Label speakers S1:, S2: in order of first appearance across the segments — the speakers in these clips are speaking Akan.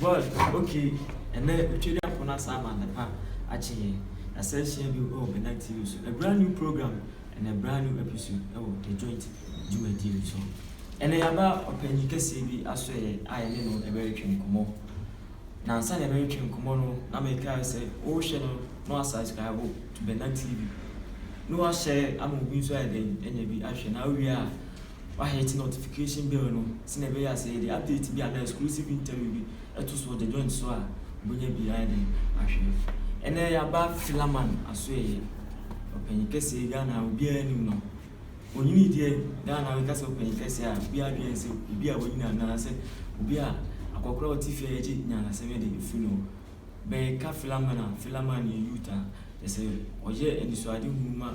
S1: But ok ɛnɛ otwadwafo no asan ama adepa akye yɛn. Yɛasan ahyia bio wɔ Bernard TV so. A brand new program and a brand new episode wɔ The Joint dwumadie no so. Ɛnɛ yɛaba ɔpanyin kɛseɛ bi asoɛeɛ a yɛne no ɛbɛretwe nkɔmmɔ. Na ansa na yɛbɛretwe nkɔmmɔ no na mekae sɛ wohwɛ no na wasubscribe to Bernard TV na wahyɛ ama obi nso ayɛ dɛn anya bi ahwɛ na awie a Wahɛɛte notification bell no sɛnea ɛbɛyɛ a sɛ yɛde update bi anaa exclusive interview bi to so wɔ The Joint so a, wobɛnya bi ayɛ dɛn ahwɛ. Ɛnnɛ yɛaba Philaman Asoɛeɛ, ɔpanyin kɛseɛ yi Ghana a obiara nim no. Ɔnyinii deɛ, Ghana a woka sɛ ɔpanyin kɛseɛ a, obiara dwen ne sɛ obi a wanyini anaa sɛ obi a akɔkora a ɔte fie a yɛgye nyanasɛm de firi ne hɔ. Bɛka Philaman a, Philaman yɛ youth a kyerɛ sɛ ɔyɛ anisoadehunu ma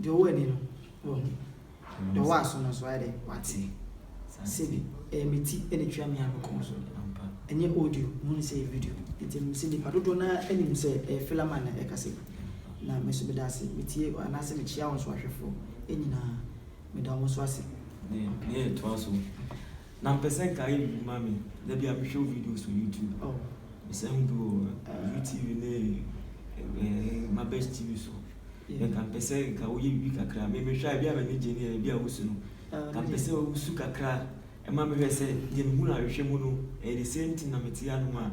S1: Deɛ ɔwɔ ani no, wahu. Deɛ ɔwɔ aso no nso, wayɛ dɛ wate. Sɛbi, ɛyɛ me ti na ɛtua me a me kɔn so. Ɛnyɛ audio, mehu no sɛ ɛyɛ video. Enti menim sɛ nnipa dodoɔ no ara nim sɛ ɛyɛ Philaman na ɛrekasa yi. Na me nso meda ase. Metie, anaasɛ mekyia wo nso ahwɛfoɔ nyinaa. Meda wo nso ase. Deɛ ɛtoa so. Na mpɛ sɛ nka ayɛ biribi ma me da bi a mehwɛ wo videos wɔ YouTube. Oh. Mesɛ hu bi wɔ View TV ne eh, Mabɛs TV so. Yeah. Nka mpɛ sɛ nka woyɛ biribi kakra. Me mehwɛ a ebi a m'ani gye ne yɛ ebi a wosu no. Ah, nka mpɛ sɛ wosu kakra ɛma mehwɛ sɛ deɛ mehu no ahwehwɛ mu no ɛyɛ the same thing na mete anom a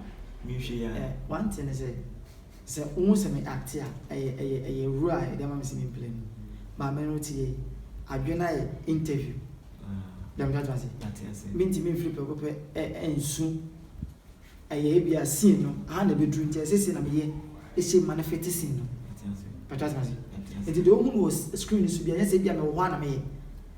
S1: mehwɛ yi a. Eh, one thing is sɛ Sɛ wohu sɛ me acte a, ɛyɛ ɛyɛ ɛyɛ awura a yɛde ama me sɛ me mplay no. Maame no te yei. Adwene no ayɛ interview. Bia mo twa te ase. Me ntumi mfiri prɛko pɛ ɛ ɛnsu ɛyɛ ebia scene no ha na ɛbɛduru nti ɛsɛ sei na me yɛ ɛhyɛ mu ma no fete scene no. Mo twa te ase. Nti deɛ wohu no wɔ screen no so biara nyɛ sɛ ebia me wɔ hɔ a na me yɛ.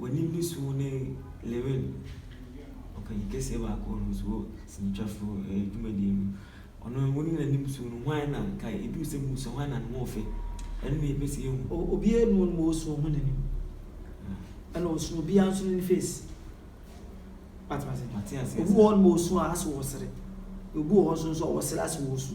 S1: W'anim ne su ne Lewin, ɔkanyi kɛseɛ baako no nso wɔ sinitwafo ɛɛ dwumadie no. Ɔno wo ne n'anim su no hwan na ka edu sɛ mu sɛ hwan na ne ho ɔfɛ ɛno na yɛpɛ sɛ yɛhu. O obiara nu wɔn mu osu wɔn ho n'anim ɛna osu obiara nso ne ne face. Wate ase? Obi wɔ hɔ nom osu a ase ɔsere. Obi wɔ hɔ nso nso ɔsere ase ɔsu.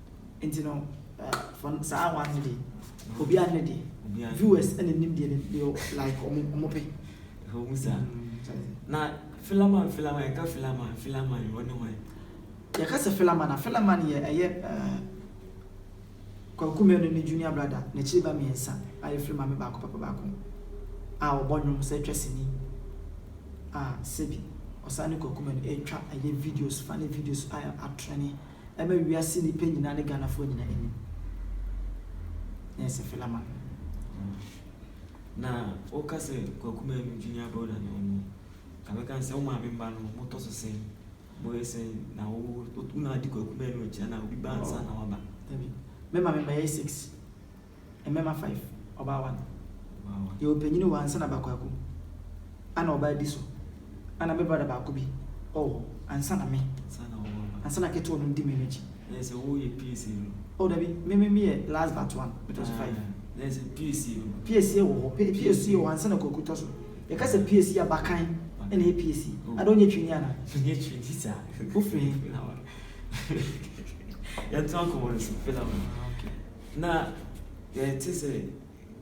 S1: Nti no for saa one ne de obi a ne de viewers ɛna nim deɛ ne like ɔmo ɔmo pɛ. Ɔmo sa na filaman filaman yɛka filaman filaman ɔne hɔn. Yɛka sɛ filaman a filaman yɛ ɛyɛ ɛɛ Kwaku Manu ne junior brother n'akyiri ba mmiɛnsa a efiri maame baako papa baako a ɔbɔ nnwom sɛ twa sini a sɛbi ɔsan ne Kwaku Manu ɛtwa ɛyɛ videos funny videos a atrɛne. ɛma wiase nnipa nyinaa ne Ghanafoɔ nyinaa anim. Ɛyɛ sɛ Philaman. Na woka sɛ Kwaku Manu junior brother na ɔno ka bɛka sɛ wo maame mma no motɔ so sɛn moyɛ sɛn na wo wo na adi Kwaku Manu akyi na obi ba ansa na waba. Dabi. Me maame mma yɛyɛ six. Mmɛma five, ɔbaa one. Yɛ wɔ panyini wɔ ansa na ba kwaku. Ana ɔbaa di so. Ana me brother baako bi ɔwɔ hɔ ansa na me. Ansa na ɔwɔ ba. Ansa na ketewa no di me no akyi. Dɛ sɛ wo yɛ piesie no. Oh dabi, me me me yɛ last but one, me tɔ so five. Aah, dɛ sɛ piesie no. Piesie wɔ hɔ, pe piesie wɔ ansa na kwaku tɔ so. Yɛ ka sɛ piesie a, bakan ɛna ɛyɛ piesie. Oh. Ada ɔnyɛ twini ana? Ɔnyɛ twini saa. Wo firi he? Felawa. Yɛntoa nkɔmɔ no so, Felawa. Ah okay. Na yɛte sɛ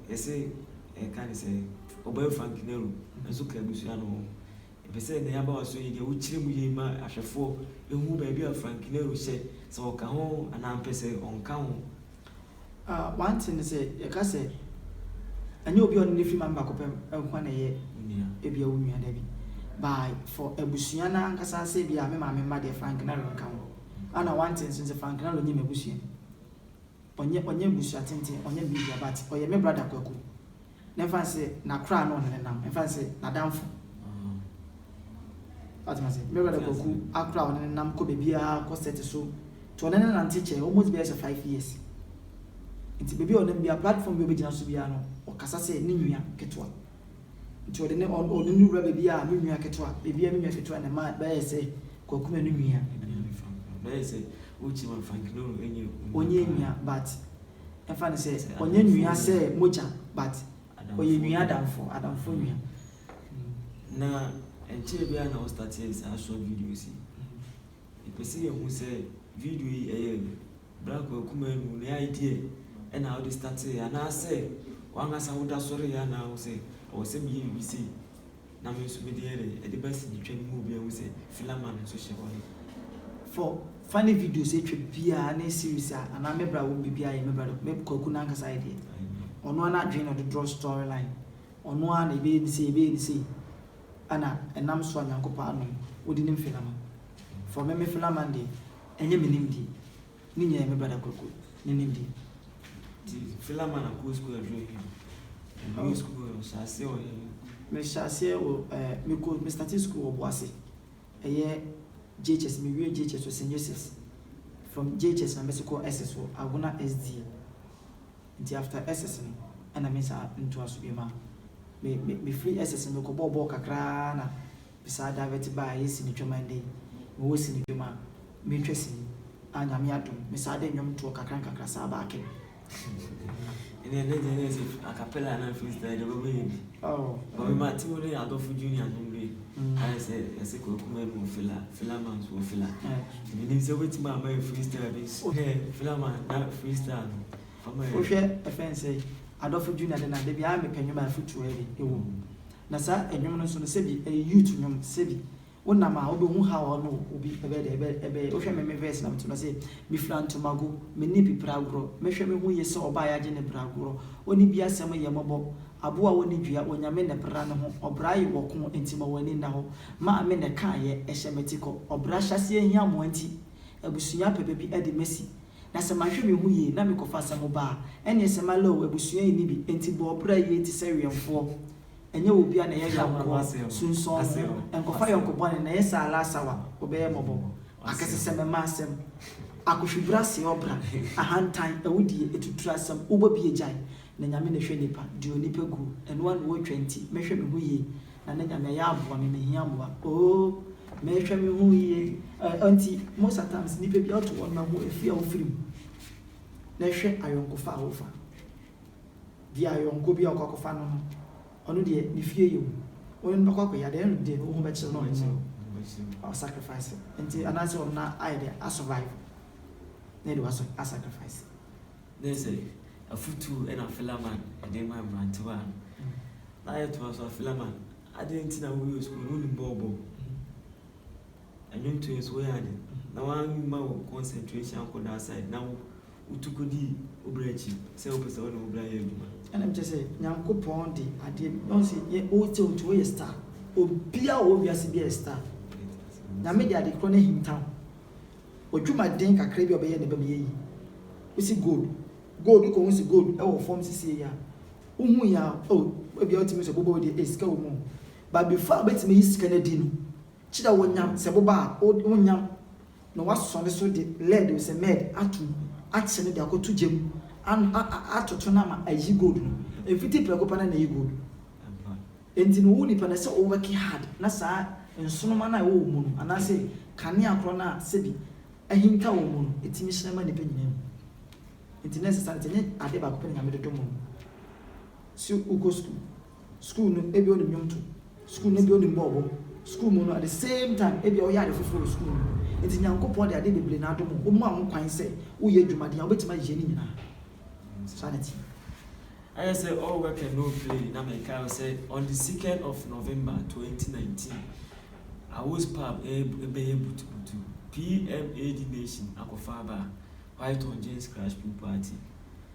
S1: yɛse yɛka ne sɛ Ɔbɔɛ Frank Nero nso ka abusua no ho. Yɛpɛ sɛ nea aba w'aso yi deɛ wokyerɛ mu yie ma ahwɛfoɔ hu baabi a Frank Nero hyɛ, sɛ ɔka ho anaa mpɛ sɛ ɔnka ho. A one thing ne sɛ yɛka sɛ ɛnyɛ obi a ɔne no firi ma no baako pɛ nko ara na ɛyɛ ebia wo nua dabi by for abusua no ankasa sɛ ebia me maame mma deɛ Frank Nero nka ho. Ana one thing nso ne sɛ Frank Nero nyɛ m'abusua. ɔnyɛ ɔnyɛ mbusua tsentsen ɔnyɛ biribiara but ɔyɛ me brother Kwaku na mfa no sɛ n'akoraa no ɔne no nam mfa no sɛ n'adamfo wate ma sɛ me brother Kwaku akoraa ɔne no nam kɔ baabiara kɔ set so nti ɔne no nante kyɛɛ almost bɛyɛ sɛ five years nti baabi a ɔnam biara platform bi a ɔbɛgyina so biara no ɔkasa sɛ ne nua ketewa. Nti ɔde ne ɔn ɔne no wura baabi a me nua ketewa baabi a me nua ketewa na ɛma bɛyɛ sɛ Kwaku na ne nua. Ɛnua ne fa nkura bɛyɛ sɛ wokyim a Frankinoro ɛnyɛ onua Ɔnyɛ paa. nua but ɛmfa no sɛ Sɛ ɔnyɛ adamfoɔ nua sɛ nua. mogya but Adamfoɔ ɔyɛ nua nua. adamfo adamfo Mm. nua. Na ɛnkyɛɛ biara na wo startee saa short videos yi. Yɛpɛ sɛ yɛhu sɛ video yi ɛyɛ bra kɔ akuma anu ne idea ɛna wode startee anaasɛ wankasa woda so reyɛ anaa wosɛ ɛwɔ sɛ meyɛ biribi sei na me nso mede yɛdɛ ɛde ba sini twa no mu obi ahu sɛ filler man nso hyɛ hɔ ne. For funny videos atwa biaa ne series a anaa me bra wom biribi ayɛ me bra dɔ me kwaku nankasa ayɛ deɛ ɔno ara nadwene na ɔde draw story line ɔno ara na yɛbɛyɛ ne sei yɛbɛyɛ ne sei Ana ɛnam so a Nyankopɔn adom wodi ne mfe lama? For me mefe lama deɛ ɛnyɛ me nimdie, ne nyinaa yɛ me brada Kwaku ne nimdie. Nti fe lama na kɔɔ sukuu aduru he? Ɛduruu sukuu he ɔhyɛɛ aseɛ wɔ he? Me hyɛɛ aseɛ wɔ ɛɛ me kɔɔ me startee sukuu wɔ Boase ɛyɛ JHS me wiee JHS wɔ St Joseph's from JHS na me se kɔɔ SS wɔ Agona SDA. nti after SS no ɛna me nsa ntoa so biom a me me mefiri SS no mekɔ bɔɔ bɔɔl kakra ara na me saa divert baa ɛyɛ sini twam a ɛndɛ yi mewɔ sini dwom a metwa sini a Nyame adom me saa de nnwom toɔ kakra nkakra saa baa kɛ. Ɛnneɛ ne deɛ na ɛsɛ acapella anaa freestyle deɛ wobɛbɔ yɛ bi. Ɔwɔ ma Timo ne Adolfo Junior nom bi ayɛ sɛ yɛse Kwaku Manu wɔ Fela Felaman nso wɔ Fela menim sɛ wobɛtumi ama yɛ freestyle bi nso wohwɛ Felaman na freestyle no fama yɛ wohwɛ ɛfɛ n sɛ Adolfo Junior de na da biara mepɛ nwom a afutuo ɛwɔ mu na saa nwom no nso no sɛbi ɛyɛ youth nwom sɛbi Wo nam a wobɛhu how ɔne obi ɛbɛyɛ dɛ ɛbɛ ɛbɛyɛ wohwɛ me me verse na meto no sɛ me fira ntomago me ne bi pra agorɔ mɛhwɛ me ho yie sɛ ɔbaa yagye ne bra agorɔ ɔne bi asɛm yɛ mɔbɔ aboa ɔne dua onyame nɛ bra ne ho ɔbra ye wɔ ko nti ma wani nna hɔ maa me nɛ kaa yɛ ɛhyɛ mɛti kɔ ɔbra hyɛaseɛ hia moa nti abusua apɛ bɛbi ɛde mɛsi na sɛ manhwɛ me ho yie na me kɔfa asɛm baa ɛneɛ sɛ malɛo abusua ɛni bi ɛnti bɔ ɔbra yie te sɛ wɛmfoɔ ɛnyɛ wɔ bia na ɛyɛ yaw kɔ sunsɔn wo ho ɛnkɔfa yɔnko bɔne na ɛyɛ saa last hour wɔ bɛyɛ mɔbɔ akɛsesɛm ɛma asɛm akohwibra seɛ ɔbra ahantan awudie atuturu asɛm wobɔ bia gyae na nyame na ɛhwɛ nipa deɛ onipa guo ɛno ara na ɔretwa nti mɛhwɛ me ho yie na na nyame ayɛ aboa me mehia mboa oo mɛhwɛ me ho yie ɛɛ nti most at times nipa bia ɔto wɔn na ho ɛfiri a wofiri mu na ɛhwɛ ayɔnkofa a wofa. bia yɔnko bi a ɔkɔ akɔfa no no ɔno deɛ ne fie yɛ hu wone no bɛkɔ akɔyɛ adeɛ ɛno deɛ woho bɛkyere no ɔno no wa sacrifice nti anaasɛ ɔno no ayɛ deɛ a survive na ɛde wa sacrifice. Ne sɛ afutuo ɛna Philaman ɛde ma mmerantewa no mm. na ayɛtoa so a Philaman adeɛ nti na woyɛ sukuu no wonim bɔɔl bɔ. Ɛnwom to yɛ so woyɛ ade na wamma wo concentration ankɔ that side na wo wotu kɔdi wo bra akyi sɛ wopɛ sɛ wone wo bra yɛ adwuma. Ɛna mekyerɛ sɛ Nyankopɔn de adeɛ bi na ɔse yɛ wo sɛ wotu woyɛ star obia ɔwɔ wiase bia yɛ star Nyame de adekorɔ no ahinta wo wadwumaden kakra bi a ɔbɛyɛ na ɛbɛma yɛyi wosi gold gold wokɔ hu se gold ɛwɔ fɔm sisiei a wohu yɛ a oh ebia wotumi sɛ boba wei deɛ eh sika wɔ mu o but before a wobɛtumi ayi sika no adi no Kyerɛ wo nyam sɛ boba a o wo nyam na woasɔ ne so de lead o sɛ mɛɛd ato mu akye no de akɔto gya mu an a a atoto no ama ayi gold no. Mfiti prɛko pɛ na na ɛyɛ gold. Enti no wo nipa no ɛsɛ o wɛke hard na saa nsonoma no a ɛwɔ wo mu no anaa sɛ kanea korɔ no a sɛbi ahinta wɔ mu no ɛtumi hyerɛn ma nipa nyinaa hu. Enti na ɛsɛ saa nti ɛnyɛ adeɛ baako pɛ na Nyame dodom o sɛ wokɔ sukuu. Sukuu no ebia onim nnwom to, sukuu no ebia onim bɔ ɔbɔ, sukuu mu no at the same time ebia ɔyɛ ade foforɔ wɔ sukuu no mu. Nti Nyankopɔn de adeɛ bebree na adom wo, ɔma wo kwan sɛ woyɛ dwumaden a wobɛtumi ayɛ ne nyinaa. Saa na ɛteɛ. Ayɛ sɛ all work and no play na mekae wo sɛ on the second of November twenty nineteen Awos pub ɛbɛyɛ butubutu PMAD nation akɔfa aba a white on jeans crash pin party.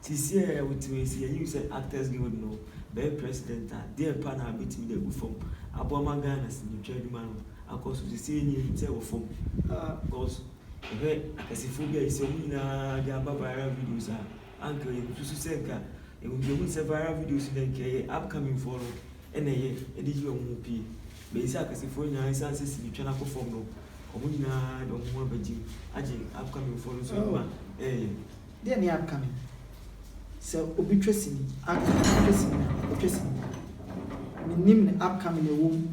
S1: Te seɛ a wotumi si yɛn usa actors guild no bɛyɛ president a deɛ pa na bɛtumi de agu fam aboa ma Ghana sinitwa adwuma no akɔ so sesei nie nim sɛ wɔ fam aa cos yɛhwɛ akɛsefoɔ bi a yɛsɛ ɔmo nyinaa de aba viral videos a anka yɛn susu sɛ nka yɛn deɛ ɔmo sɛ viral videos no nka ɛyɛ upcoming foɔ no ɛna ɛyɛ ɛde yi ɔmo ho pie bɛyi sɛ akɛsefoɔ nyinaa ɛsan sɛ sinitwa no akɔ fam no ɔmo nyinaa de ɔmo ho abɛgye agye upcoming foɔ no so adwuma ɛɛyɛ. Deɛ ne aka no, sɛ obi twa sini, aka, ɔtwa sini a, ɔtwa sini. Menim ne aka me na ɛwɔ mu.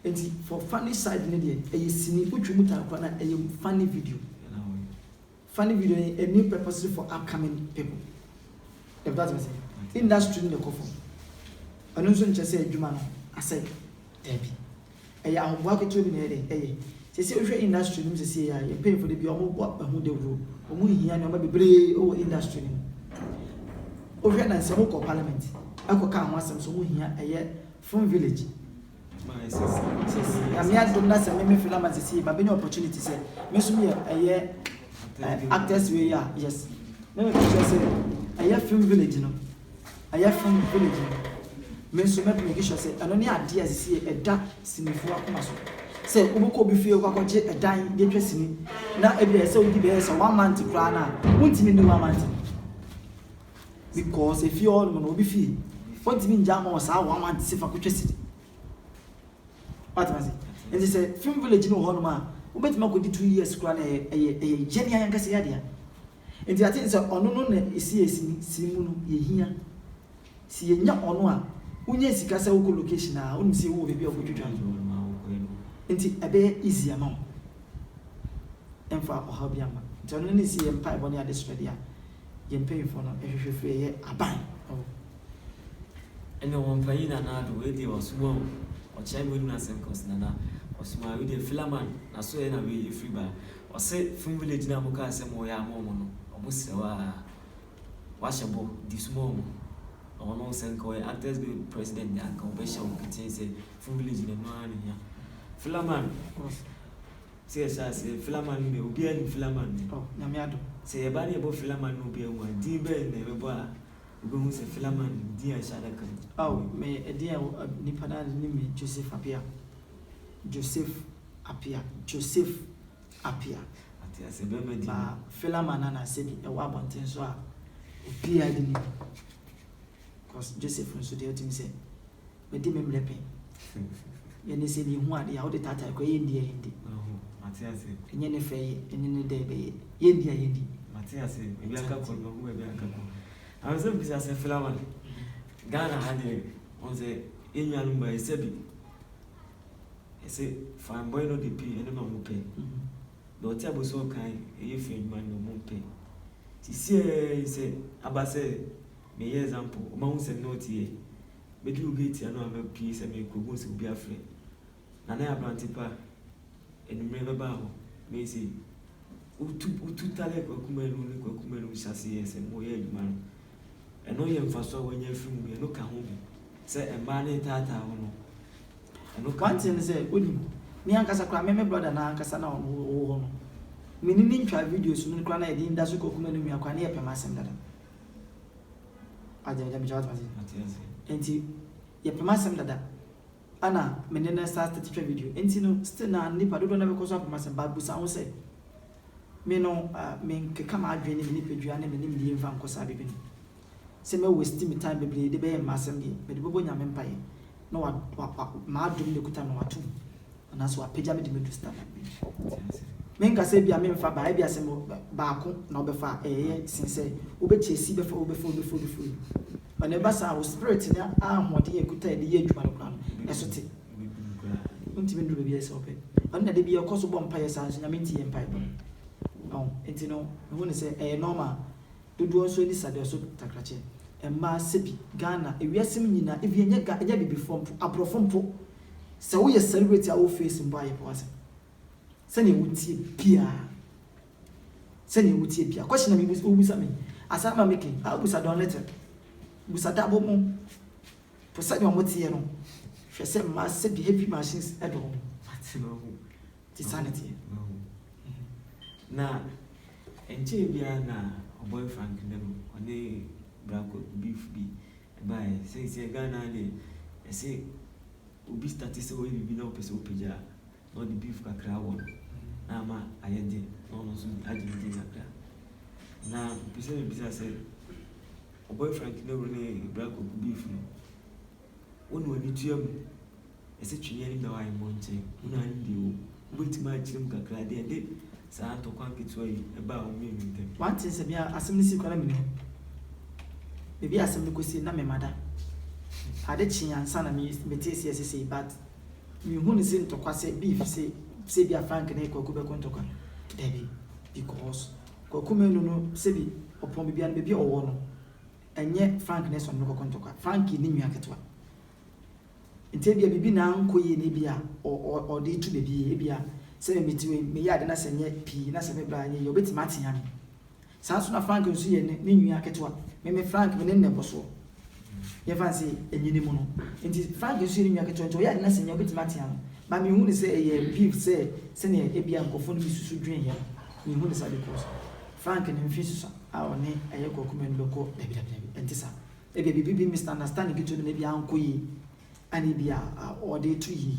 S1: Enti for funny side no deɛ, ɛyɛ sini, wotwi mu taa koraa no a, ɛyɛ funny video. Funny video no yɛ a new purposely for upcoming people. If that me say, industry no na ɛkɔ fam. Ɛno nso nkyerɛ sɛ adwuma no asɛe. Daabi. Ɛyɛ ahoboa ketewa bi na ɛyɛ dɛn? Ɛyɛ. Seesei wohwɛ industry no mu seesei a, yɛn mpanyimfo de bi a wɔbɔ ahu dawuro. Wɔhia nneɛma bebree wɔ industry no mu. Wohwɛ na nsɛm kɔ parliament kɔkaa ho asɛm sɛ wɔhia ɛyɛ from village. Nyame adom na sɛ me me filaman seesei mabɛnya opportunity sɛ me nso meyɛ ɛyɛ actors wei a yes. Na me picture sɛ ɛyɛ film village no a yɛfrɛ no village no, me nso mɛbɔ me kiswa sɛ ɛno ne adeɛ a sisi yɛ ɛda sinifoɔ akoma so. Sɛ wobɛkɔ obi fie kɔ akɔgye ɛdan de atwa sini na ebi a ɛsɛ wodi bɛyɛ sɛ one month koraa no a, wontumi nni one month because efie hɔ nom no obi fie wontumi ngya ama wɔ saa one month sɛ fa kɔtwa sini. Watema se? Nti sɛ film village no wɔ hɔ nom a wobɛtumi akɔdi two years koraa na ɛyɛ ɛyɛ ɛyɛ gyɛnni ankasa yɛ adeɛ a. Enti ate ne sɛ ɔno no na esi a esi si mu no yɛ hia. Se yenya ɔno a, wonya sika sɛ wokɔ location aa, wonim se wowɔ baabi a wokɔtwitwa no nti ɛbɛyɛ easy ama wo. Ɛmfa ɔhaw biaa mma. Nti ɔno no na esi yɛ mpaebɔ ne adesrɛ deɛ a yɛn mpanyinfoɔ no hwehwɛ firi ɛyɛ aban ɛwɔ. Ɛne wɔn mpanyin Nana Addo, wei deɛ wasuma o, ɔkyerɛ me w'anim no asɛm cos Nana ɔsuma, wei deɛ Philaman naso ɛna wei efiri ba, Ɔse fun village no a mo kaa sɛ mo ya ama ɔmo no ɔmo srɛ wo aa wahyɛ bɔ di suma ɔmo na ɔno sɛ nka ɔyɛ actors guild president de a nka ɔbɛ hyɛ wo ketee sɛ fun village no ɛno aa na ehia filaman sɛ yɛ hyɛ aseɛ filaman no deɛ obiaa nim filaman deɛ Oh nyame adom. sɛ yɛ ba ne yɛ bɔ filaman na obiaa hu a din bɛn na yɛbɛ bɔ a obe hu sɛ filaman no din a ɛhyɛ adaka mu. Ao me ɛdeɛ a nipa no ara de nim me Joseph Appiah Joseph. Appiah, Joseph Appiah, ba Philamon a na sɛbi ɛwɔ abɔnten so a obiara de ne bi cause Joseph nso deɛ ɔtumi sɛ mɛdi me mmerɛ pɛn yɛ ne sɛ mehu adeɛ a wode taataa kɔ ɛyɛ ndi a yɛndi ɛnyɛ ne fɛ yɛ ɛne ne dɛ bɛyɛ yɛndi a yɛndi mate ase ebi aka kɔ no ɔhu ebi aka kɔ ɛno sɛ bisa sɛ Philamon Ghana ha deɛ ɔn sɛ yɛnnuanom ba ɛsɛ bi ɛsɛ fine boy no de pii ɛno na ɔmo pɛ deɛ ɔte abosi ɔkan ɛyɛ fɛ adwuma no na ɔmo mpɛ nti siɛɛɛi sɛ aba sɛ meyɛ example ɔmo ahu sɛ me ne wo teɛ mɛduru gate ano a mɛpie sɛ meekɔ ɔmo hu sɛ obi afrɛ Nana yɛ aberante pa anwummerɛ bɛba hɔ mɛyɛ sei wotu wotu tale kwaku manu ne kwaku manu hyɛ aseɛ sɛ moyɛ adwuma no. Ɛno yɛ mfaso a wɔanya afi mu, ɛno ka ho bi sɛ mmaa no retaataa wo no, ɛno ka ho. W'anteɛ ne sɛ, wonim, me ankasa koraa, me me brother no ankasa no a ɔno ɔwɔ hɔ no, me ne no ntwaa videos no koraa na yɛde nda so kɔ Kumanu nua koraa na yɛpɛ m'asɛm dada. W'ate, gyame kyɛ w'ate m'ase? Mate ase. Enti, yɛpɛ m'asɛm dada, ɛna me ne no start twitwa video, enti no, still na nnipa dodoɔ no ara bɛkɔ so apɛ m'asɛm, but busa wo ho sɛ, Me no, menkeka m'adwene ne me nipadua ne me nimdeɛ mfa nkɔ saa baabi no. Sɛ mɛ waste me time bebree de bɛyɛ mma asɛm deɛ, mede bɛbɔ Nyame mpaeɛ na wa wa wa m'adom na ɛkuta me no wato mu anaasɛ wapagya me de me adu standard bi mu. Menka sɛ ebia memfa baa, ebia sɛ mɔ baako na wobɛfa a ɛɛyɛ sen sɛ wobɛkyɛ si bɛfa wei bɛfa wei bɛfa wei bɛfa wei. Ma nea ɛba saa, wo spirit ne ahoɔden a ɛkuta a ɛde yɛ adwuma no koraa no, ɛso te. Wontumi nnuru baabi a ɛsɛ sɛ wopɛ. Ɛno na da biara kɔ so bɔ mpaeɛ saa nso, Nyame ntie yɛn mpaebɔ. Ɔho, enti no, mehu no sɛ ɛyɛ normal. Dodoɔ nso ani sa dɔso takrakyɛ. Mmaa, sɛbi, Ghana, ewiase mu nyinaa, even ɛnyɛ Ga, ɛnyɛ Abibifoɔ mpo, Aborɔfo mpo, sɛ woyɛ celebrity a wo face mmɔ ayɛ pɛ w'asɛm. Sɛdeɛ wotie biara. sɛnea wotie pia. Question na mebisa wobisa me asan ma me ke a busa Don Little, busa Dabo mo po sɛnea ɔmo teɛ no hwɛ sɛ mmaa sɛbi heavy machines ɛdɔ ɔmo. Mate mahu. Nti saa na ɛteɛ. Mahu mahu. Na ɛnkyɛɛ biara na Ɔbɔe Frank dɛm ɔne bra kwaku beef bi ɛbaeɛ. Sɛnseɛ Ghana ha deɛ ɛse obi starte sɛ ɔyɛ biribi na ɔpɛ sɛ ɔpagya a. na ɔde beef kakra wɔ no na ama ayɛ den na ɔno nso agye ne din kakra. Na mepɛ sɛ mebisa sɛ ɔbɔy Frank Nehru ne Bra Koku beef no, wo na w'ani tua mu? Ɛsɛ twene anim na waayɛ mmɔnten. Wo na anim deɛ wɔ mu. Wobɛtumi akyerɛ mu kakra deɛn de saa ntɔkwa nketewa yi baa wɔn mmienu ntam? Wante sɛ me a asɛm no sii koraa na menni hɔ. Baabi a asɛm no kɔsii no na memmada. Ade kyee ansa na metee aseɛ sesei but. Minhu no se ntɔkwa sɛ bi fi se sɛ ebia Frank ne Kwaku bɛko ntɔkwa. Dabi, because Kwaku Manu no sɛ bi ɔpɔn baabi a no baabi a ɔwɔ no ɛnyɛ Frank ne sɛ ɔne no kɔko ntɔkwa. Frank yɛ ne nua ketewa. Nti ebia biribi na ankɔ yie na ebia ɔ ɔ ɔde retu baabi. Ebia sɛ me mete wei meyɛ ade na sɛ nyɛ pii na sɛ me bra nyɛ yie a ɔbɛtumi atea me. Saa nso na Frank nso yɛ ne nua ketewa. Me me Frank me ne no na ɛkɔ soɔ. Yɛmfa no sɛ ɛnyini mu no. Nti Frank nso yɛ ne nua ketewa nti ɔyɛ ade no a sɛ nya wobɛtumi atea no. But menhu no sɛ ɛyɛ beef sɛ sɛdeɛ ebia nkurɔfoɔ no bi susu dwene yɛ no. Menhu no saa because Frank ne mfe susua a ɔne ɛyɛ Kwaku Manu bɛkɔ dabi dabi dabi ɛnte saa. Ebia biribi bi misunderstanding ketewa bi na ebia ankɔ yie a na ebia ɔde reto yie.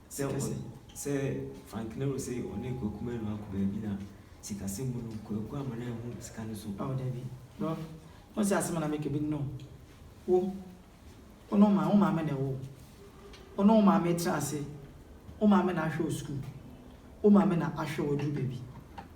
S1: Sɛ hon sɛ Franklin Rose ɔne Kwaku Manu akɔ baabi na sikasɛm mu no Kwaku amma no anhu sika no so. Ao dabi bro won se asem a na meka bi no wo wo ne wo maame wo maame na ɛwo wo ne wo maame tra ase wo maame na ahwɛ wo school wo maame na ahwɛ wo aduru baabi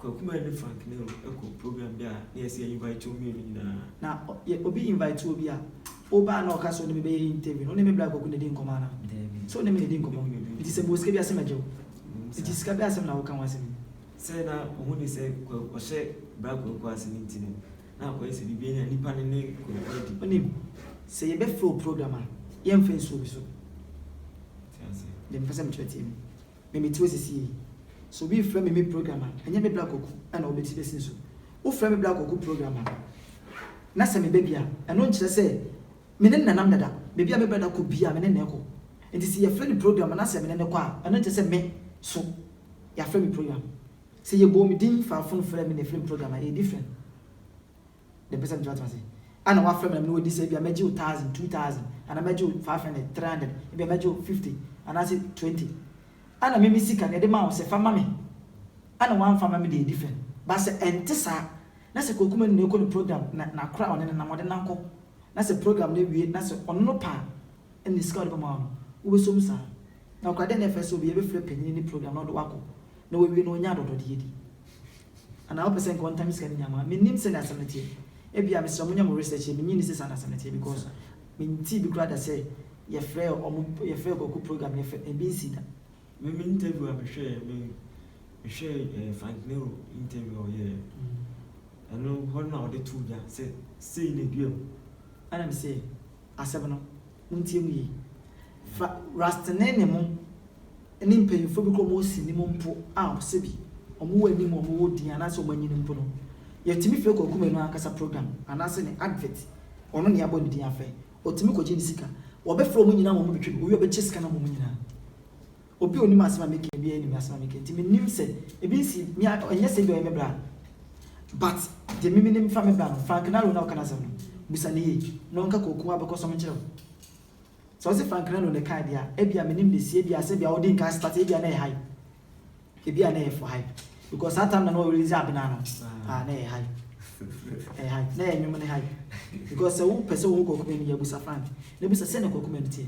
S1: Kwakumɛ ne Frank Nero kɔ program bi a na yɛse yɛ invite wɔn mmienu nyinaa. Na yɛ obi invite wo bi a, wo ba a na ɔka se ɔne me bɛyɛ interview no, wo ne me bra Kwaku na di nkɔmɔ anaa? Daabi. Se wo ne me na di nkɔmɔ. Nti se me wɔ sika bi a se mɛgye wo. Ɛwom saa. Nti sika bi asem na wo ka ho asem yi. Sɛ na ɔho ni sɛ Kwaku ɔhyɛ bra Kwaku ase no nti no, na akɔyɛ sɛ biribi anya nipa no ne Kwaku adi. Wonim, sɛ yɛ bɛ frɛ wo program a, yɛ nfa nsuo me so. Te aseɛ. Deɛ me pɛ sɛ me kyerɛ tie me. me me tiwɔ sisi yi sɛ obi refrɛ me me program a ɛnyɛ me bra kɔku na ɔbɛti bɛsi nso wofrɛ me bra kɔku program a na sɛ meba bi a ɛno nkyerɛ sɛ me ne no nanam dada baabi a me bra da kɔ biaa me ne no ɛkɔ nti sɛ yɛfrɛ no program a na sɛ me ne no kɔ a ɛno nkyerɛ sɛ me so yɛafrɛ me program sɛ yɛbɔɔ me din faa fon frɛɛ me na ɛfrɛ me program a ɛyɛ different. na ɛpɛ sɛ metumi atena ase. Ɛna wafrɛ me na me ne wadi sɛ ebia mɛgye wo thousand, two thousand, anaa mɛgye wo five hundred, three hundred, ebia mɛgye wo fifty anaasɛ twenty. Ɛna me me sika no yɛde maa wo sɛ fa ma me. Ɛna wamfa amma me deɛ ɛdi fɛ. But sɛ ɛnte saa na sɛ Kwaku Manu na ɛrekɔ ne program na n'akora a ɔne no nam ɔde no akɔ na sɛ program no awie na sɛ ɔno no pɛ a ɛna ne sika a ɔde bɛma wo no wobɛsɔ mu saa. Na ɔkora dɛn na ɛfɛ sɛ obiara bɛfiri apanyini ne program na ɔde wo akɔ na wawie na ɔnya adɔdɔdeɛ di. Anaa wopɛ sɛ nka ɔntan me sika no nyinaa ma me? Mennim sɛnea asɛm no teɛ. Ebia, mesrɛ monya mo research yɛ, mennye nni sɛ saa na asɛm no teɛ because mentee bi koraa da sɛ yɛfrɛɛ wɔn, yɛfrɛɛ kwaku program no, yɛfrɛɛ, ɛbi nsii da. Me me interview a mehwɛɛ, me mehwɛɛ eh, Frank Nero interview a ɔyɛeɛ no, ɛno hɔ no na ɔde too dwa sɛ sei na ɛduaa mu. Ɛna mesee asɛm no, Montie mu yi. Fa Rastney ne mo ne mpanyimfoɔ bi kɔ mo osi no mu mpo a, sɛbi wɔn wɔ anim, wɔn wɔ din anaasɛ wɔn anyini mpo no, yɛtumi frɛ Kwaku Manu ankasa program anaasɛ ne advert, ɔno na yɛabɔ ne din afrɛ, ɔtumi kɔgye ne sika. Wɔbɛfrɛ wɔn nyinaa ma wɔabɛtwa bi, owie a ɔbɛkyɛ sika no ama wɔn nyinaa. Obi a onim asɛm a meka biara nim asɛm a meka nti menim sɛ ebi nsi me a ɛnyɛ sɛ ebia ɔyɛ me bra but deɛ me menim fa me bra no Frank Nalo na ɔka n'asɛm no busa no yie na ɔnka kooko abɛkɔ sɔm nkyerɛ wo sɛ ɔse Frank Nalo na ɛkae deɛ a ebia menim de sie ebia sɛ bia ɔde nka starte ebia na ɛyɛ hype ebia na ɛyɛ for hype because saa time na na ɔrelease Abena no ah na ɛyɛ hype ɛyɛ hype na ɛyɛ nnwom no hype because sɛ wopɛ sɛ wohu Kwaku Manu yɛ busa Frank na busa sɛnea Kwaku Manu teɛ.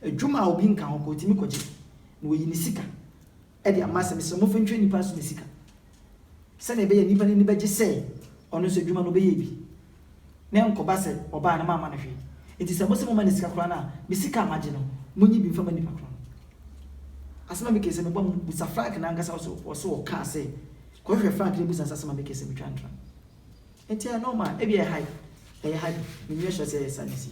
S1: Adwuma a obi nka ho koraa, otumi kogye, na oyi ne sika de ama. Sɛ mesrɛ momfa ntwa nnipa aso ne sika, sɛnea ɛbɛyɛ a nnipa no ani bɛgye sɛ ɔno nso adwuma no ɔbɛyɛɛ bi, na ɛnkɔba sɛ ɔbaa na mamma no hwee. Enti sɛ mose momma no sika koraa no a, me sika a magye no, munyi bi mfa mma nnipa korɔ no. Asɛm a mekae sɛ mebɔ no, busa Frank no ankasa nso, ɔse ɔkaa sɛ, kɔhwehwɛ Frank na busa no sɛ asɛm a mekae sɛ metwa ntra no, enti ɛyɛ nɔɔma a? Ebia ɛyɛ hype, ɛyɛ hype, menni ɔhyɛ sɛ ɛyɛ saa na ɛsii.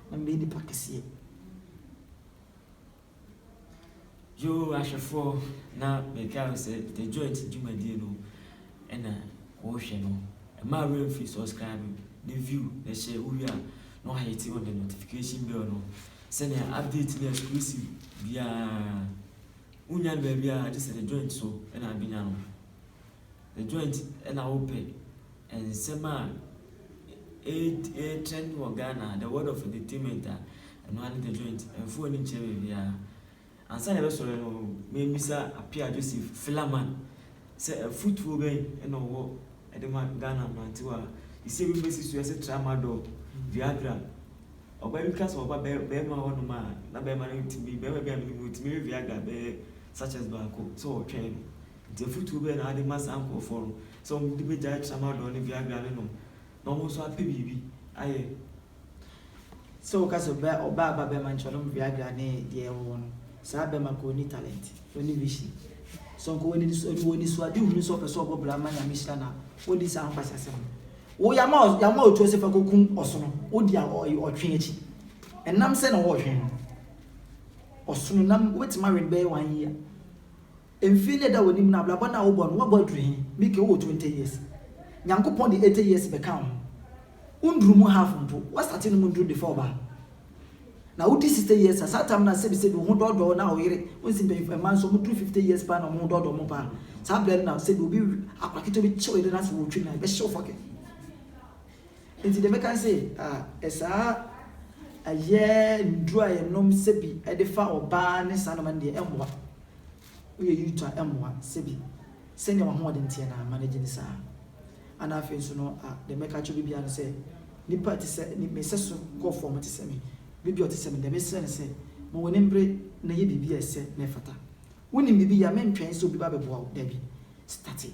S1: na mebɛyɛ nipa kɛseɛ. Yoo ahwɛfoɔ na meka wo sɛ the joint dwumadie no ɛna wohwɛ no ɛma awura mfiri subscribe ne view na ɛhyɛ wowie a na wahete on the notification bell no sɛnea update ne exclusive biara wonya no baabiara gye sɛ the joint so ɛna abɛnya no Ɛdwan nti na wopɛ nsɛm a ɛretrend wɔ Ghana ha, the world of entertainment a, ɛno ara ne The Joint. Ɛmfa w'ani nkyerɛ baabiara. Ansa na yɛbɛsɔre no, memmisa Appiah Joseph, Flaman, sɛ afutuo bɛn na ɔwɔ de ma Ghana mmerantewa a seesei ebinom asi so yɛ sɛ Tramadol, Viagra. Ɔbaa bi ka sɛ ɔba barima hɔnom a, na barima no tumi, barima bi a menim no, ɔtumi we Viagra bɛyɛ sachets baako sɛ ɔretwɛn no. Enti afotuo bɛn na wode ma saa nkorɔfoɔ no sɛ wɔn de bɛgyae tramadol ne viagra no nom na wɔn nso apɛ biribi ayɛ? Sɛ woka sɛ ɔbɛ ɔbaa ba bɛma nti ɔnom viagra ne deɛ ɛwɔ hɔ no, saa bɛma korɔ ɔnni talent, ɔnni vision. So nka ɔwɔ aniso ɔwɔ anisoadehunu sɛ ɔpɛ sɛ ɔbɔ bra ma Nyame hyira no a, wodi saa nkwaseasɛm no. Wo yɛama wo yɛama wo tuo sɛ fa kɔkum ɔsono, wodi a ɔ ɔ ɔtwe akyi. Ɛnam sɛn na wɔɔtwe no? Ɔsono nam, wobɛtumi awe no bɛyɛ one year. Mfe na ɛda w'anim no abrabɔ no a wobɔ no woabɔ aduru he? Mike wowɔ twenty years Nyankopɔn de eighty years bɛka wo ho Wonduru mu half mpo Woastate nom nduru defa ɔbaa Na wodi sixty years a saa tam no a sɛbisɛbi wo ho dɔɔdɔ wo na ɔyere wo nsi mpanyimfo mmaa nso wɔduru fifty years paa na wɔn ho dɔɔdɔ wɔn paa saa berɛ no na sɛbi obi akora ketewa bi kye wo yere no afei wɔtwi no a ɛbɛhye wo fɔkɛ Nti deɛ mɛka ne sɛ ah saa ɛyɛ nduru a yɛnom sɛbi defa ɔbaa ne saa nnoɔma no deɛ ɛmmoa. Woyɛ Youth a ɛmmoa sɛbi sɛnea w'ahoɔden teɛ na ama no agye ne saa anaa afei nso no a deɛ mɛka akyerɛ obi biara ne sɛ nnipa a ɛte sɛ me me sɛso kɔɔfoɔ a wɔte sɛ me bere bi a ɔte sɛ me deɛ mesrɛ ne sɛ ma w'ani mbere na yɛ biribi a ɛsɛ na ɛfata wonim biribi yɛ a mentwɛn sɛ obi ba bɛboa wo dabi starte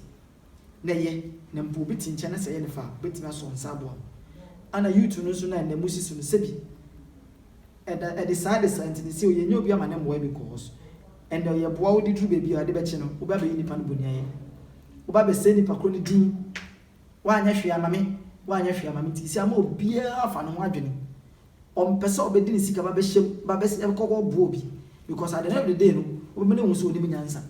S1: na ɛyɛ na mpo obi te nkyɛn na sɛ ɛyɛ no fɛ a obetumi asɔ nsa aboa no. Ana YouTube no nso no a ɛnnɛ musi so no sɛbi ɛda ɛde saa de saa nti no sɛ yɛnyɛ obi ama ne mmoa because ɛnnɛ ɔyɛ boa wode duru baabi a ade bɛkye no wobɛ abɛyɛ nipa no boniayɛ wobɛ abɛsɛe nipa koro no din woanyɛ hwee ama me woanyɛ hwee ama me nti sɛ ama obiara afa ne ho adwene ɔmpɛ sɛ ɔbɛde ne sika babɛhyɛm babɛkɔ kɔboa obi because at the end of the day no wobɛma no ahu sɛ onim nyansa.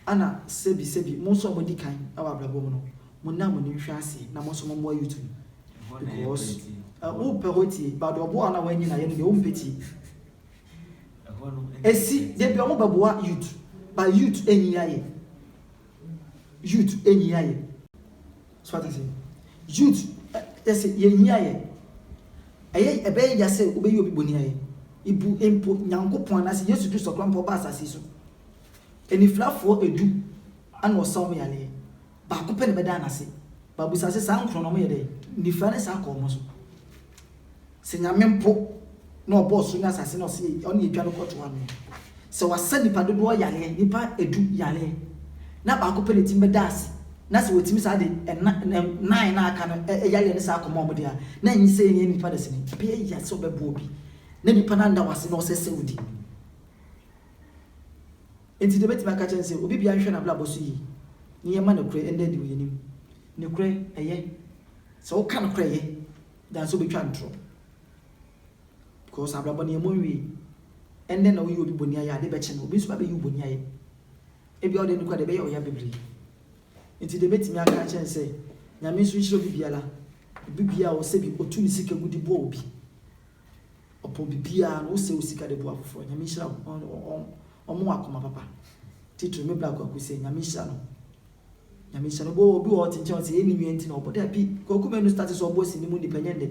S1: Ana sɛbi sɛbi mo nso a mo adi kan wɔ abrabɔ mu no mo nna mo ani nhwɛ aseɛ na mo nso mo mmoa YouTube because wo pɛ hɔ tie but deɛ ɔboa wo no a w'anyi no ayɛ no deɛ wo mpɛ tie ɛsi dabi ɔmo bɛ boa YouTube but YouTube anyi ayɛ YouTube anyi ayɛ. So wate ase? Youth, ɛ, yɛ se yɛhia yɛ. Ɛyɛ, ɛbɛyɛ ya sɛ wobɛyi obi bɔne ayɛ. Ibu mpo Nyankopɔn anaase Yesu Kristo koraa mpo a ɔbaa asase yi so. Anifirafoɔ du na ɔsa wɔn yareɛ. Baako pɛ na ɛbɛdaa no ase. But busa se saa nkron no wɔyɛ dɛn? Nifira no saa kɔɔ wɔn so. Sɛ Nyame mpo na ɔbɔɔ soro ne asase na ɔse ɔne yɛtwa no kɔto ano yi, sɛ wasa nipa dodoɔ yareɛ, nipa du yareɛ, na baako pɛ na ɛtumi bɛda ase, na sɛ wɔtumi saa de ɛna nnan na aka no yareɛ no saa kɔma wɔn deɛ a, na ɛnye sɛ ɛnyɛ nipa dasani. Ɛbɛyɛ yia sɛ ɔbɛboa obi na nipa no anda wo ase na ɔsɛ sɛ odi anim. Enti deɛ mɛtumi aka kyerɛ no sɛ, obi biara nhwɛ n'abrabɔ so yie na yɛmma nokorɛ nna adi wɔ yɛn anim. Nokorɛ, ɛyɛ. Sɛ woka nokorɛ, ɛyɛ. than sɛ wobɛtwa ntorɔ because abrabɔ no yɛmmɔ nwie. Ɛnnɛ na woyi obi bɔne ayɛ a, ade bɛkye no obi nso bɛbɛyi wo bɔne ayɛ. Ebia wode no koraa deɛ ɛbɛyɛ ɔya bebree. Nti deɛ mɛtumi aka akyerɛ no sɛ Nyame nso nhyira obi biara. Obi biara a ɔsɛ bi, ɔtu ne sika gu de boa obi, ɔpɔ biribiara no, wosɛ wo sika de boa afoforɔ a, Nyame nhyira wo. Ɔmɔ akoma papa. Titire me bra Kwaku sɛ Nyame nhyira no. Nyame hyɛ no bɔ obi wɔ hɔ ɔte nkyɛn ɔse yɛ ne nua nti na ɔbɔ dabi kwaku manu start sɛ ɔbɔ sini mu nipa nyɛ ndɛ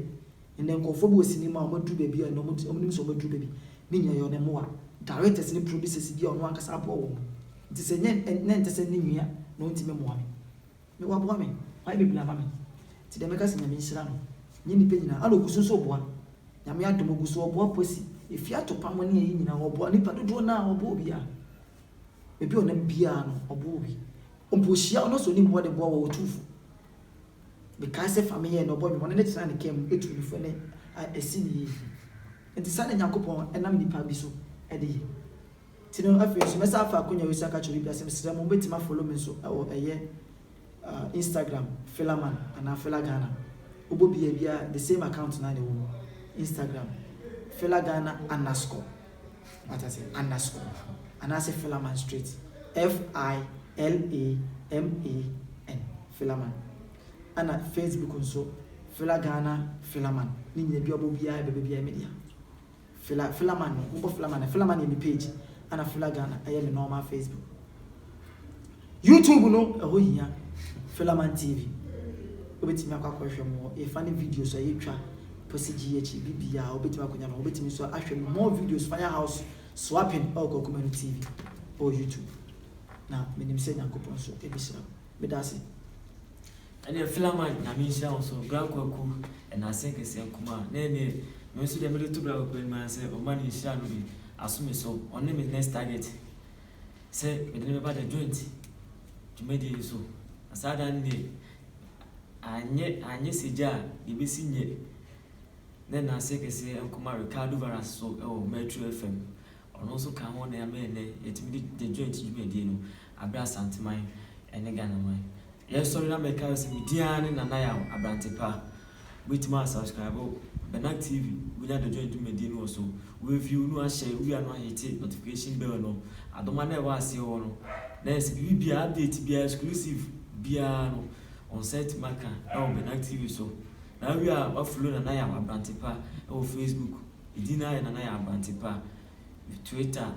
S1: ndɛ nkorɔfoɔ bɔ sini mu a ɔmo aduru baabi a ɔmo te ɔmo nim sɛ ɔmo aduru baabi ne nyina yɛ ɔne mmoa directors ne producers bi a ɔno ankasa aboa wɔn nti sɛ nyɛ ndɛ ɛntɛ sɛ ne nua na ɔntumi mmoa me me waboa me wayɛ bebree ama me nti deɛ mɛka sɛ Nyame nhyira no nyɛ nipa nyina ana ɔgu so nso boa Nyame adom ɔgu so ɔboa Kwasi Efiato Pamo ne ayi nyina ɔboa nipa dodoɔ no a ɔboa obiara Baabi a ɔnam biara no, ɔboa obi. Mpo ohyia ɔno sɛ onim hɔ de boa wɔ ɔtumfo. Mekae sɛ fa me yɛɛ nea ɔbɔ nwom, ɔne ne tena ne kaa mu tu ne fo ne a ɛsi ne yie. Enti saa na Nyankopɔn nam nnipa bi so de yɛ. Nti no afei nso mɛsan afa akonya yi so aka akyerɛ obi biara sɛ mesrɛ mo mobɛtumi afollow me nso wɔ ɛyɛ Instagram Philaman anaa PhilaGhana wobɔ biaa biaa the same account no ara na ɛwɔ mu Instagram PhilaGhana underscore wate ase underscore anaasɛ Philaman straight F-I-L-A-M-A-N Philaman ɛna Facebook nso PhilaGhana Philaman ne nyina bia wobɔ biaa ɛbɛba biaa ɛyɛ me dea. Fila fila man no mobɔ fila man no fila man yɛ me page ɛna fila Ghana ɛyɛ me normal Facebook YouTube no ɛhɔ hia fila man TV wobɛtumi akɔ akɔhwɛ mo yɛ funny videos a yɛtwa pɔsi gyi akyi bibia wobɛtumi akɔnya no wobɛtumi nso ahwɛ no more videos fire house swapping ɛwɔ kwakumanu TV ɛwɔ YouTube na menim sɛ Nyankopɔn nso ɛbɛhyira wo. Medase. Ɛneɛ Philaman Nyame nhyira wo nso bra kwaku ɛnase kɛseɛ nkumaa na ɛneɛ me nso deɛ mede to bra kwaku anim ara sɛ ɔma ne nhyira no bi aso me so ɔne me next target sɛ mede no bɛba the joint dwumadie no so na saa da no deɛ anyɛ anyɛ sɛ gya a deɛ bɛsi nyɛ na ɛnase kɛseɛ nkumaa Ricardo Varas so ɛwɔ Metro FM Ɔno nso kaa ho na ɛma nnɛ yɛtumi de The Joint dwumadie no abrɛ Asanteman ne Ghanaman. Yɛsɔre na mɛka wo sɛ me din ara ne Nana Yaw Abrante Pa. Wobɛtumi a subscribe Bernag TV, wobɛnya The Joint dwumadie no wɔ so, wobɛ view no ahyɛ, wowie a na woahete notification bell no. Adoma no a ɛwɔ aseɛ hɔ no, na yɛsɛ biribiara, update biara, exclusive biara no wo nsa atumi aka wɔ Bernag TV so. Na wowie a woafolo Nana Yaw Abrante Pa wɔ Facebook. Edin no ayɛ na na ayɛ aberante pa. Twitter,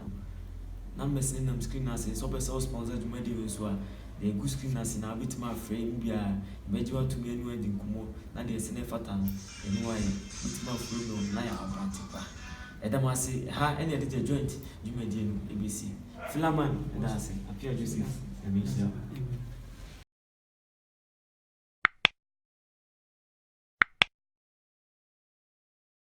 S1: numbers no nam screen no ase. Sɛ wopɛ sɛ wo sponsor dwumadi no nso a, deɛ ɛgu screen no ase no ara wobɛtumi afrɛ emu biara. Ɛbɛgye wo atumi ɛne wɔn adi nkɔmmɔ na deɛ ɛsɛ na ɛfata no ɛne wɔn ayɛ. Wobɛtumi aforo no na ayɛ aberante pa. Yɛda mo ase. Ɛha ɛne yɛde The Joint dwumadie no ɛbɛsi. Philaman, yɛda ase. Appiah Joseph, Nyame nhyira wo.